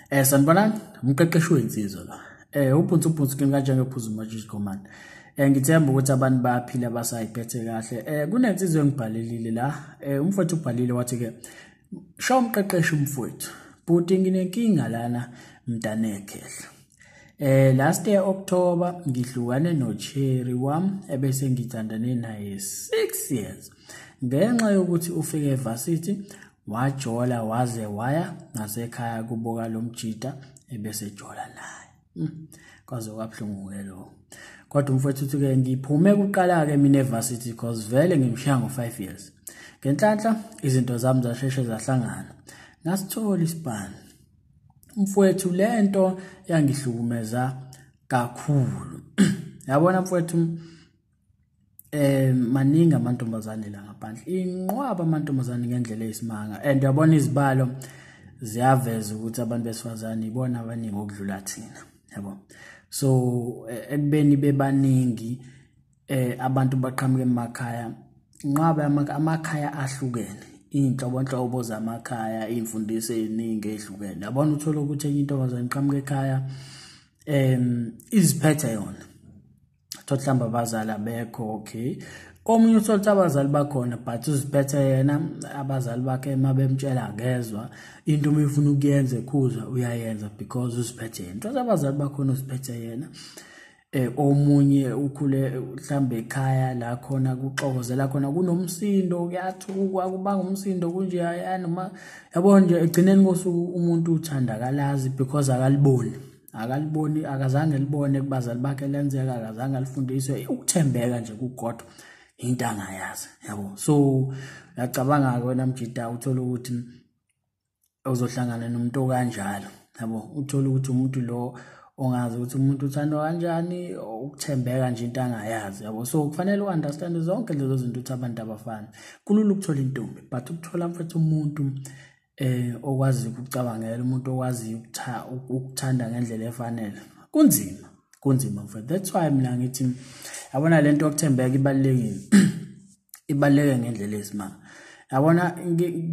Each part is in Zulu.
Eh sanibonani umqeqeshi wensizwa la. Eh ubhunsu ubhunsu kimi kanjenge phuzu majiji command. Eh ngithemba ukuthi abantu bayaphila basayiphethe kahle. Eh kunensizwa engibhalelile la. Eh umfowethu ubhalile wathi ke sha umqeqeshi umfowethu. Bhuti nginenkinga lana mntanekhehla. Eh last year October ngihlukane no Cherry wam ebese ngithandane naye 6 years. ngenxa yokuthi ufike evarsity wajola waze waya nasekhaya kubuka lo mjita ebesejola naye hmm, kwaze kwabuhlungu-ke lo kodwa umfowethu uthi-ke ngiphume kuqala-ke mina evarsity cause vele ngimshiya ngo-five years ngenhlanhla izinto zami zasheshe zahlangana ngasithola isibani umfowethu le nto yangihlukumeza kakhulu yabona mfowethu eh maningi amantombazane la ngaphandle inqwaba amantombazane ngendlela eyisimanga and yabona izibalo ziyaveza ukuthi abantu besifazane ibona abaningi okudlula thina yabo so eh, ekubeni bebaningi eh abantu baqhamuka emakhaya inqwaba amakhaya ahlukene iy'nhlobonhlobo zamakhaya iy'mfundiso ey'ningi ey'hlukene yabona uthole ukuthi enye intombazane iqhamuka ekhaya um iziphethe yona thola mhlawumbe abazali abekho okay komunye uthole ukuthi abazali bakhona but uziphethe yena abazali bakhe uma bemtshela akezwa into uma efuna ukuyenza ekhuza uyayenza because uziphethe yena thola abazali bakhona uziphethe yena eh omunye ukhule mhlambe ekhaya la khona kuxokozela khona kunomsindo kuyathukwa kubanga umsindo kunje yani uma yabo nje egcineni kosuku umuntu uthandakalazi because akaliboni akaliboni akazange libone kubazali bakhe lenzeka akazange alifundiswe ukuthembeka nje kugodwa into angayazi yabo so ngiyacabanga ke wena mjida uthola ukuthi uzohlangana nomuntu okanjalo yabo uthola ukuthi umuntu lo ongazi ukuthi umuntu uthandwa kanjani ukuthembeka nje into angayazi yabo so kufanele u-understande zonke lezo zinto ukuthi abantu abafani kulula ukuthola intombi but ukuthola mfethu umuntu eh okwazi ukucabangela umuntu okwazi ukuthanda ngendlela efanele kunzima kunzima mfethu that's why mina ngithi yabona lento yokuthembeka ibalekile ibaleke ngendlela esimanga yabona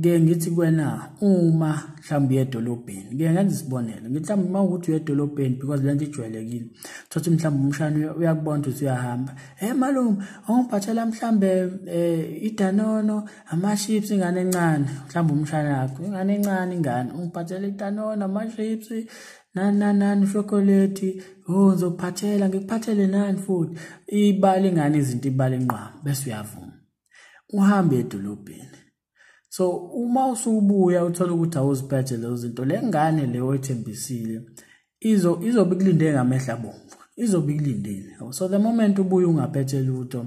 ke ngithi kwena uma mhlawumbe uye edolobheni ke ngenza isibonelo ngithi mhlawumbe uma ukuthi uye edolobheni because lento ijwayelekile thothi mhlawumbe umshana uyakubona ukuthi uyahamba hey malume awungiphathela mhlawumbe um idanono amaships ingane encane mhlawumbe umshana yakho ingane encane ingane ungiphathela itanona amaships nani nani nani ushokoleti o oh, ngizokuphathela ngikuphathele nani futhi ibala ingane izinto ibala inqwama bese uyavuma uhambe edolobheni so uma usubuya uthola ukuthi awuziphethe lezo zinto le ngane le oyithembisile izo izobe ikulinde ngamehla bomvu izobe ikulindile so the moment ubuye ungaphethe lutho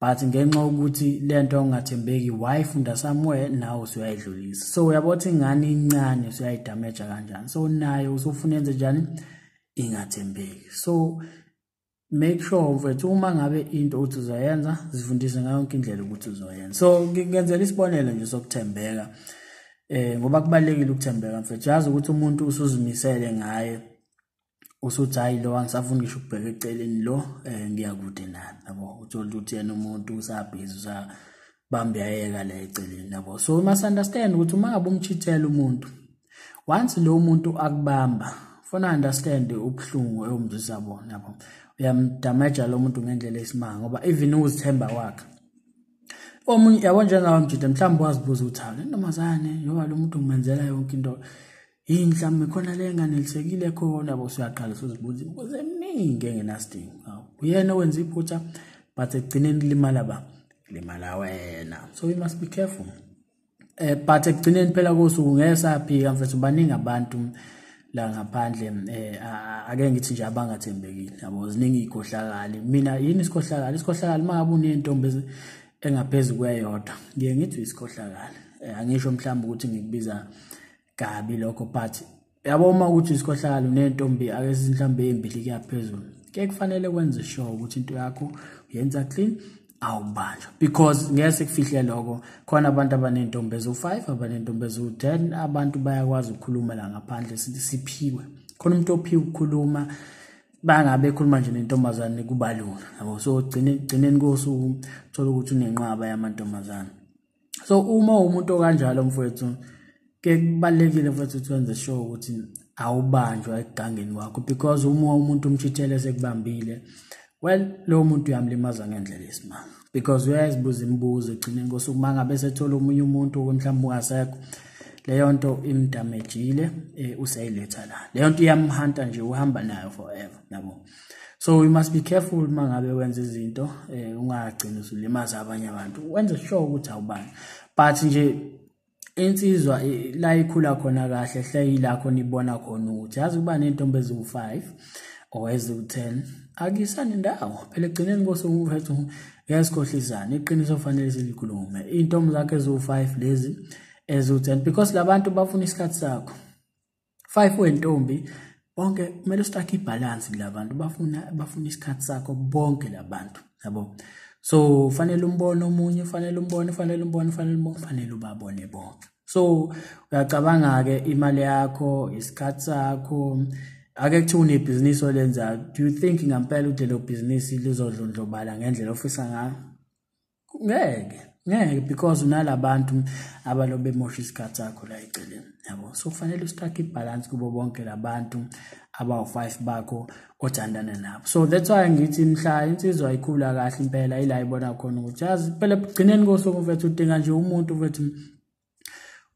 but ngenxa yokuthi lento ongathembeki wayifunda somewhere nawe usuyayidlulisa so uyabo ukuthi ingane incane usuyayidamaja kanjani so naye usufuna enze njani ingathembeki so make sure mfethu uma ngabe into uthi uzoyenza zifundise ngayo yonke indlela ukuthi uzoyenza so ngenzela isibonelo nje sokuthembeka eh ngoba kubalekile ukuthembeka mfethu yazi ukuthi umuntu usuzimisele ngaye usuthi hayi lo angisafuni ngisho ukubheka eceleni lo um ngiyakude nami yabo uthole ukuthi yena umuntu usabhizi usabambe yayeka la eceleni yabo so we must understand ukuthi uma ngabe umchithela umuntu once lo muntu akubamba funa understand ubuhlungu ewumzisa bona yabo uyamdamaja lo muntu ngendlela esimanga ngoba even uzithemba wakhe omunye yabo njengawo mjide mhlawumbe wazibuza ukuthi hawu le ntombazane yoba lo muntu ngimenzela yonke into Yini mhlawumbe khona le nganelisekile khona bo siyaqala sozibuza imibuzo eminingi engenasidingo. Hawu uyena owenza iphutha but ekugcineni limala ba limala wena. So we must be careful. Eh but ekugcineni phela kosuku ngeke saphika mfethu baningi abantu la ngaphandle eh ake ngithi nje abangathembekile yabo ziningi ikhohlakali mina yini isikhohlakali isikhohlakali mangabe unentombi engaphezulu kweyodwa ngiye ngithi isikhohlakali eh, angisho mhlawumbe ukuthi ngikubiza kabi lokho but yabo uma ukuthi isikhohlakalo nentombi ake sizinhlambe ezimbili kuyaphezulu ke kufanele kwenze sure ukuthi into yakho uyenza clean awubanjwa because ngeke sikufihle lokho khona abantu abanentombi ezu-5 abanentombi ezu-10 abantu bayakwazi ukukhuluma la ngaphandle siphiwe khona umuntu ophiwe ukukhuluma bangabe ekhuluma nje nentombazane kubalula yabo so gcineni kosuku thola ukuthi unenqwaba yamantombazane so uma umuntu okanjalo mfowethu ke kubalekile mfowethu ukuthi wenze sure ukuthi awubanjwa ekugangeni wakho because uma umuntu umchithele sekubambile well lowo muntu uyamlimaza ngendlela esimanga because uyazibuza imibuzo egcineni kosuku uma ngabe sethola omunye umuntu mhlawumbe ungasekho leyo nto imdamejile eh, useyiletha la leyo nto iyamhanta nje uhamba nayo forever yabo so we must be careful uma ngabe wenza izinto eh ungagcini usulimaza abanye abantu wenze sure ukuthi awubani but nje insizwa la ikhula khona kahle hle yilakho nibona khona ukuthi yazi kuba nentombi eziwu-5 or eziwu-10 akuyisani ndawo phela ekugcineni kosukuwethu yasikhohlisana iqiniso fanele silikhulume iy'ntombi zakho eziwu-5 lezi eziwu-10 because labantu bafuna isikhathi sakho five wentombi bonke kumele strike ibalance kulabantu bafuna bafuna isikhathi sakho bonke labantu yabo so fanele umbone omunye fanele umbone fanele umbone fanele umbone fanele ubabone bonke so uyacabanga ke imali yakho isikhathi sakho ake kuthiwa unebhizinisi olenzayo do you think ngampela ukuthi lelo bhizinisi lizodlondlobala ngendlela ofisa ngayo ngeke ngeke because unalabantu abalobe mosha isikhathi sakho la eceleni yabo so kufanele ustrike ibalance kubo bonke labantu abawu-five bakho othandana nabo so that's why ngithi mhla insizwa ikhula kahle impela ila ibona khona ukuthi yazi phela ekugcineni kosuku mfethu udinga nje umuntu mfethu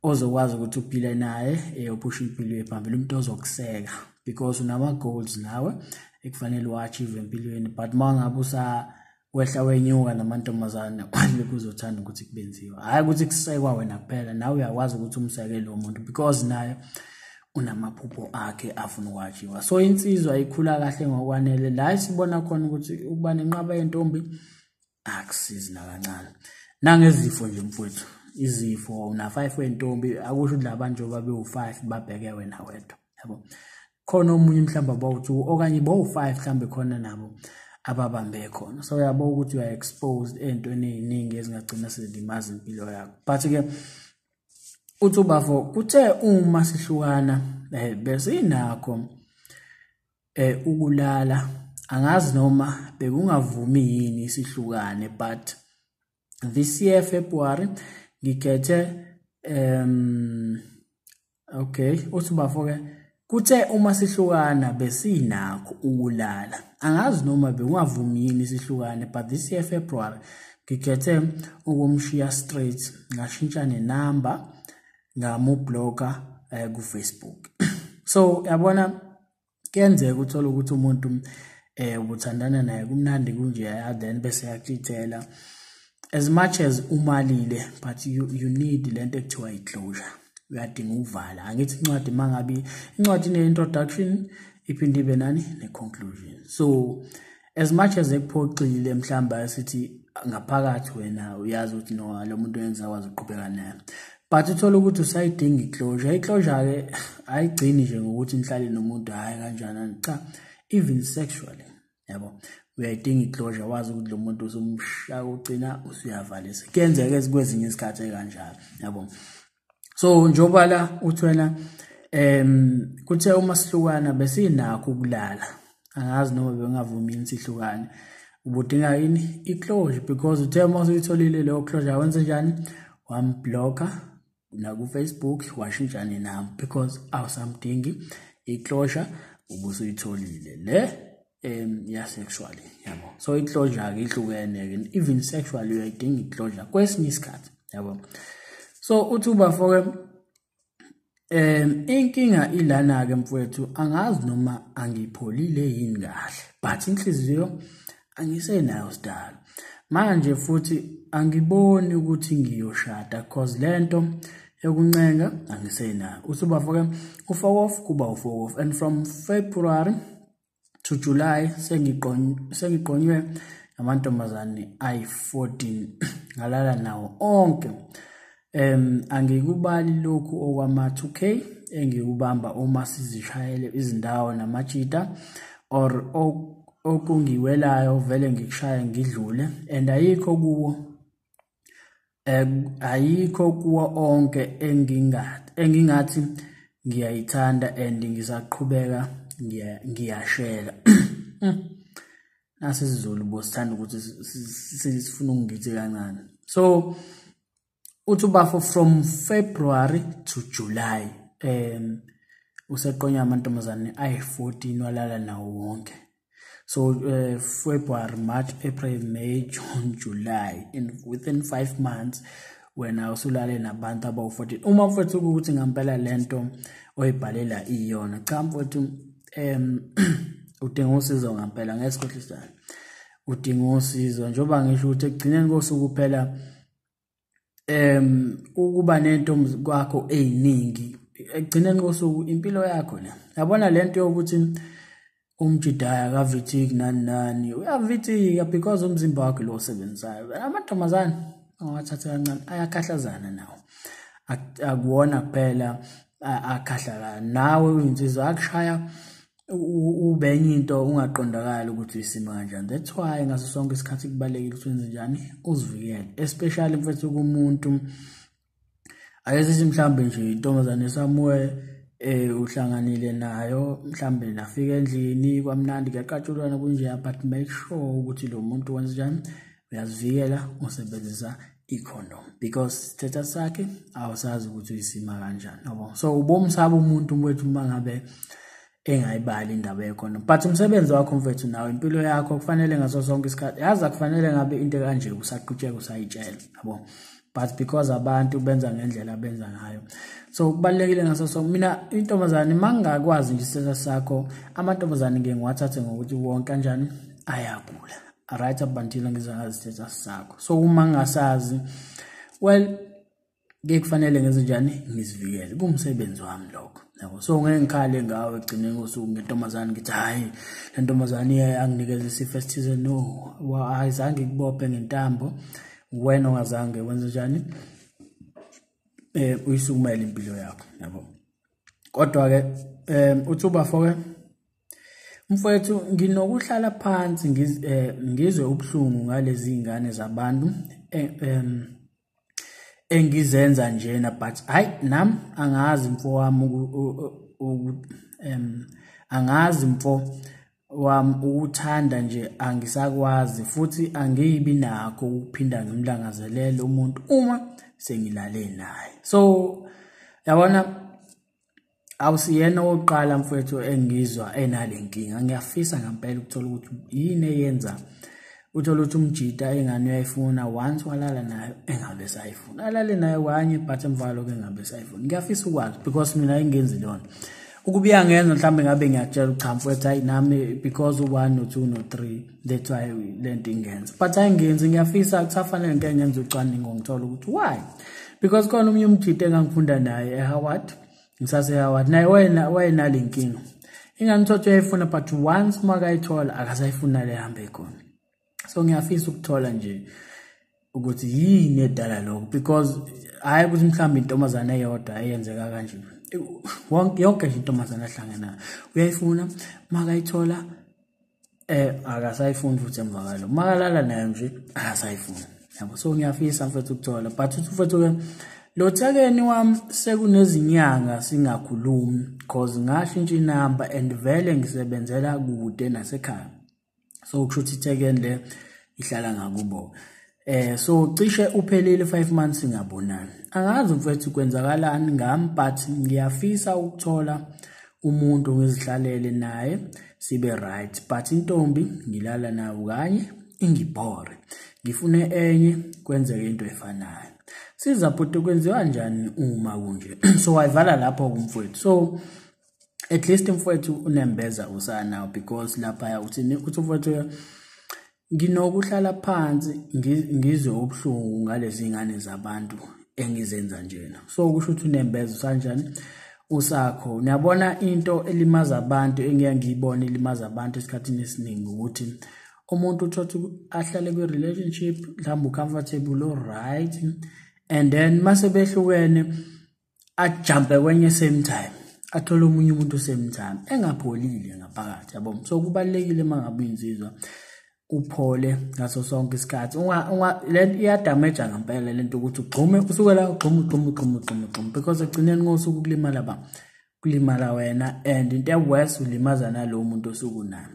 ozokwazi ukuthi uphile naye eh, uphushe impilo yephambili umuntu ozokuseka because unama-goals nawe ekufanele uwa-achieve empilweni but uma ngabe usa wehla wenyuka namantombazane kwanje kuzothanda ukuthi kubenziwe hhayi ukuthi kusekwa wena kuphela nawe uyakwazi ukuthi umseke lo muntu because naye unamaphupho akhe afuna ukwakhiwa so insizwa ikhula kahle ngokwanele la sibona khona ukuthi ukuba nenqaba yentombi akusizi nakancane nangezifo nje mfowethu izifo una-five wentombi akusho ukuthi laba njengoba bewu-five babheke wena wedwa yabo khona omunye mhlawumbe abawu-two okanye bawu-five mhlawumbe khona nabo ababambe khona so uyabo ukuthi uya exposed ey'ntweni ey'ningi ezingagcina sezilimaza impilo yakho but-ke uthi ubafo kuthe uma sihlukana um besinakho eh ukulala angazi noma bekungavumi yini isihlukane but this year February ngikhethe um okay uthi bafo ke kuthe uma sihlukana besinakho ukulala angazi noma bekungavumi yini isihlukane but this year February ngikhethe ukumshiya straight ngashintsha nenumber ngamublocker eh, ku Facebook so yabona kuyenzeka uthole ukuthi umuntu eh ubuthandana naye kumnandi kunje then bese yakutshela as much as umalile but you, you need lento ekuthiwa i-closure uyadinga ukuvala angithi incwadi mangabi incwadi ne-introduction iphinde ibe nani ne-conclusion so as much as ekuphoxile mhlawumbe asithi ngaphakathi wena uyazi ukuthi no lo muntu wenza kwazi uqhubeka naye but uthole ukuthi usayidinga iclosure iclosure-ke ayigcini nje ngokuthi nihlale nomuntu hhayi kanjanani cha even sexually yabo uyayidinga iclosure wazi ukuthi lo muntu usumshaya ugcina usuyavalisa kuyenzeka kwezinye izikhathi ekanjalo yabo so njengoba la uthi wena um kuthe uma sihlukana besinakho ukulala angazi noma bengavumi yini sihlukane ubudinga yini i-closure because uthe uma usuyitholile leyo closure wenze njani wamblocker nakufacebook washintsha nenamba because awusamdingi i-closure ubusuyitholile le um ya sexually yabo so i-closure-ke ihlukene-ke even sexual uyayidinga i-closure kwesinye isikhathi yabo so uthi ubafoke um inkinga ilana-ke mfowethu angazi noma angipholile yini kahle but inhliziyo angisenayo sidalo manje futhi angiboni ukuthi ngiyoshada cause lento yokuncenga angisenayo uthi ubafoke ufokof kuba ufokof and from february to July sengiqonywe amantombazane ayi-14 ngalala nawo onke um angikubali lokhu okwama-2k engikubamba uma sizishayele izindawo namajita or okungiwelayo vele ngikushaya ngidlule and ayikho kuwo ayikho kuwo onke engingathi engingathi ngiyayithanda and ngisaqhubeka ngiyashela hmm. nasi sizulu bosithanda ukuthi sifuna ukungithi kancane so uthi ubafo from february to july um useqonya amantombazane ayi-14 walala nawo wonke So uh, February, March, April, May, June, July in within 5 months wena usulale nabantu abawu-14 uma mfowethu ukuthi ngampela lento oyibhalela iyona cha mfowethu um udinga usizo ngampela ngeke sikhohlisane udinga usizo njengoba ngisho ukuthi ekugcineni kosuku kuphela em ukuba nento kwakho eziningi egcine nqosuku impilo yakho le yabona lento yokuthi umjidaya akavithiki nani nani uyavithika because umzimba wakhe lo osebenzayo amantombazane awathathe kancane ayakhahlazana nawo akuwona kuphela akhahlaka nawe uyinsizwa akushaya ubenye into ungaqondakali ukuthi uyisimo kanjani that's why ngaso sonke isikhathi kubalulekile ukuthi wenze njani uzivikele especially mfethu kumuntu ayesithi mhlawumbe nje intombazane esamuwe eh uhlanganile nayo mhlambe nafika endlini kwamnandi kuyaqatshulwana kunje but make sure ukuthi lo muntu wenza njani uyazivikela usebenzisa icondom because sithetha sakhe awusazi ukuthi uyisima kanjani yabo so ubomsaba umuntu mfethu uma ngabe engayibali indaba yecondom but umsebenzi wakho mfethu nawe impilo yakho kufanele ngaso sonke isikhathi yazi akufanele ngabe into kanje usaqhutsheka usayitshela yabo but because abantu benza ngendlela benza ngayo so kubalekile ngaso so mina intombazane mangakwazi nje isithetha sakho amantombazane ngiye ngiwathathe ngokuthi wonke kanjani ayagula right up until ngize ngazithetha sakho so uma ngasazi well ngeke kufanele ngenze njani ngizivikele kumsebenzi wami lokho yabo so ngeke ngikhale ngawe egcineni kosuku ngentombazane ngithi hhayi le ntombazane iye anginikeza isifo esithize no ayizange ikubophe ngentambo wena ongazange wenze njani um uyisukumele impilo yakho yabo kodwa-ke um uthi ubafoke Mfowethu nginokuhlala phansi eh, ngizwe ubuhlungu ngalezi ngane zabantu eh, engizenza njena but hayi nam angazi mfo wami um angazi mfo wami ukuthanda nje angisakwazi futhi angiyibi nakho ukuphinda ngimlangazelele umuntu uma sengilale naye so yabona awusiyena owokuqala mfowethu engizwa enale nkinga ngiyafisa ngempela ukuthola ukuthi yini eyenza uthole ukuthi umjita ingane uyayifuna once walala nayo engabe sayifuna alale nayo kanye but emvalo ke engabe sayifuna ngiyafisa ukwazi because mina engenzi lona ukubuya ngenza mhlawumbe ngabe ngiyakutshela ukuthi cha mfowethu hayi nami because u-one no-two no-three that's why le nto ingenza but ayingenzi ngiyafisa kusafanele ngike ngenza ucwaningo ngithola ukuthi why because khona omunye umjita engangifunda naye ehoward ngisasehoward naye wayenale nkinga ingangithothi uyayifuna but once uma kayithola akasayifuna le hambe khona so ngiyafisa ukuthola nje ukuthi yini edala lokho because hayi ukuthi mhlawumbe intombazane eyodwa eyenzeka kanje wonke yonke nje intombazane ahlangana uyayifuna makayithola eh akasayifuni futhi emva kwalo makalala nayo nje akasayifuni yabo so ngiyafisa mfethu ukuthola but uthi mfethu ke lo thekeni wami sekunezinyanga singakhulumi cause ngashintsha inamba and vele ngisebenzela kude nasekhaya so kusho ukuthi ithekeni le ihlala ngakubo eh so cishe uphelile 5 months ngabonani angazi mfethu kwenzakalani ngami but ngiyafisa ukuthola umuntu ngizihlalele naye sibe right but intombi ngilala nayo kanye ingibhore ngifune enye kwenzeke into efanayo siza bhuti kwenziwa njani uma kunje so wayivala lapho kumfowethu so at least mfowethu unembeza usana because laphaya uthini uthi mfowethu nginokuhlala phansi ngizwe ubuhlungu ngalezi ngane zabantu engizenza njena so kusho ukuthi unembeza usanjani usakho niyabona into elimaza abantu engiya ngiyibona ilimaza abantu esikhathini esiningi ukuthi umuntu uthothi ahlale kwi-relationship mhlawumbe ucomfortable oright and then mase behlukene ajumpe kwenye same time athole omunye umuntu same time engapholile ngaphakathi yabo so kubalekile mangabe insizwa uphole ngaso sonke isikhathi unga unga le iyadamage ngempela lento ukuthi ugxume usuke la ugxume ugxume ugxume ugxume ugxume because ekugcineni ngosuku kulimala ba kulimala wena and into eworse ulimaza nalowo muntu osuku naye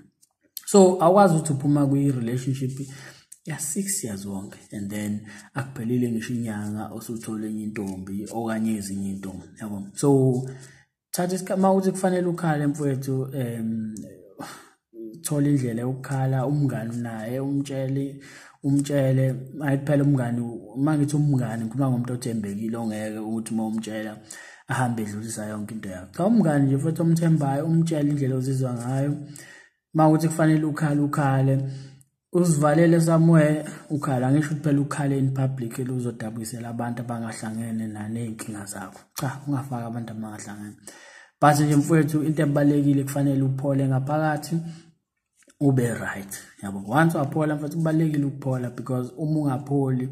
so awukwazi ukuthi uphuma kwi-relationship ya-six years wonke and then akuphelile ngisho inyanga osuthole enye intombi okanye ezinye intombi yabo so thatha isikhathi uma ukuthi kufanele ukhale mfowethu um thola indlela yokukhala umngani naye umtshele umtshele ayi kuphela umngani uma ngithi umngani ngikhuluma ngomuntu othembekile ongeke ukuthi uma umtshela ahambe edlulisa yonke into yakho cha umngani nje futhi omthembayo umtshele indlela ozizwa ngayo uma ukuthi kufanele ukhale ukhale uzivalele somewhere ukhala ngisho ukuthi phela ukhale in public eluzodabukisela abantu abangahlangene naney'nkinga zakho cha ungafaki abantu abangahlangene but nje mfowethu into ebalulekile kufanele uphole ngaphakathi ube right yabo once waphola mfethu kubalekile ukuphola because uma ungapholi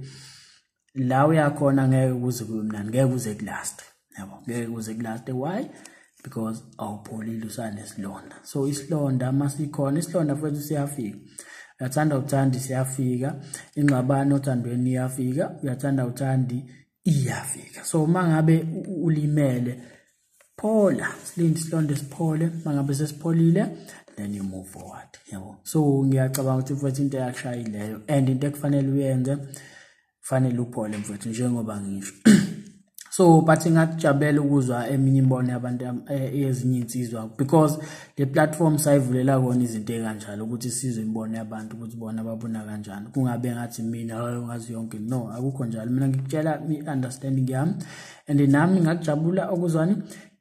la uyakhona ngeke kuze kube mnandi ngeke kuze kulast yabo ngeke kuze kulast why because awupholile usanesilonda so isilonda uma sikhona isilonda futhi siyafika uyathanda uthandi siyafika ingxabano othandweni iyafika uyathanda uthandi iyafika so uma ngabe ulimele phola silinde isilonda siphole mangabe sesipholile then you move forward yabo so ngiyacabanga ukuthi mfowethu into eyakushayileyo and into ekufanele uyenze kufanele uphole mfowethu njengoba ngisho so but ngakujabela ukuzwa eminye imbono yabantu eh, ezinye insizwa because le platform sayivulela kona izinto ekanjalo ukuthi sizwe imbono yabantu ukuthi bona babona kanjani kungabe ngathi mina ngazi yonke no akukho njalo mina ngikutshela i-understanding yami and nami ngakujabula okuzwani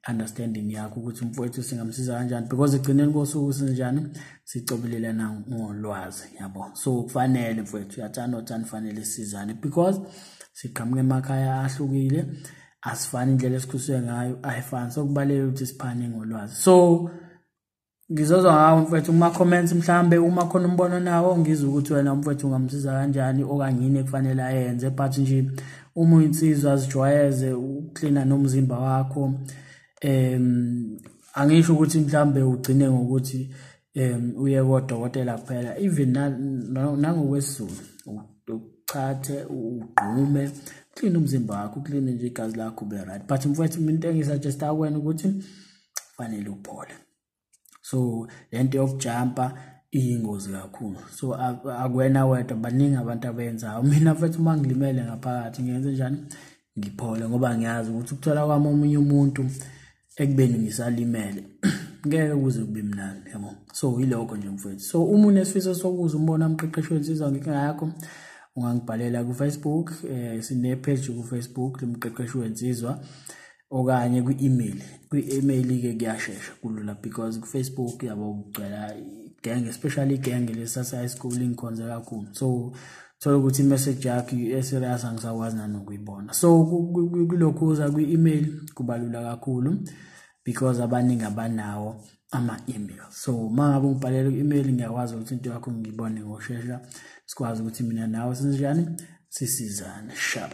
understanding yakho ukuthi umfowethu singamsiza kanjani because egcineni kosuku sinjani sicobelelana ngolwazi yabo so kufanele mfowethu uyathanda othanda fanele sizane because siqhamuke emakhaya ahlukile asifani indlela esikhuliswe ngayo ayifani sokubalekile ukuthi siphane ngolwazi so ngizozwa ngawo mfethu kuma-comments mhlawumbe uma khona umbono nawo ngizwe ukuthi wena umfethu ungamsiza kanjani okanye yini ekufanele ayenze but nje uma uyinsizwa zijwayeze ukuklina nomzimba wakho um angisho ukuthi mhlawumbe ugcine ngokuthi um uye kodokotela kuphela even nangokwesizulu uchathe ugqume uklina umzimba wakho uklina nje igazi lakho ube right but mfowethu into engisuggesta kwena ukuthi fanele uphole so lento yokujumpa iyingozi kakhulu so akwena wedwa baningi abantu abenzayo mina mfethu uma ngilimele ngaphakathi ngenze njani ngiphole ngoba ngiyazi ukuthi ukuthola kwami omunye umuntu ekubeni ngisalimele ngeke kuze kube mnandi yabo so yilokho nje mfethu so uma unesifiso sokuza umbona umqeqeshi wensizwa ngenkinga yakho ungangibhalela kufacebook um eh, sinepage kufacebook lomqeqeshi wensizwa okanye kwi-email kwi-email ke kuyashesha kulula because kufacebook yabo kugcwela igenge especially igenge lesase high school ingikhonze kakhulu so thola ukuthi imessage yakho i-serious angisakwazi nanokuyibona so kulokhu uza kwi-email kubalula kakhulu because abaningi abanawo ama-email so uma ngabe ungibhalela ku-email ngiyakwazi ukuthi into yakho ngiyibone ngoshesha sikwazi ukuthi mina nawe sinjani sisizane sharp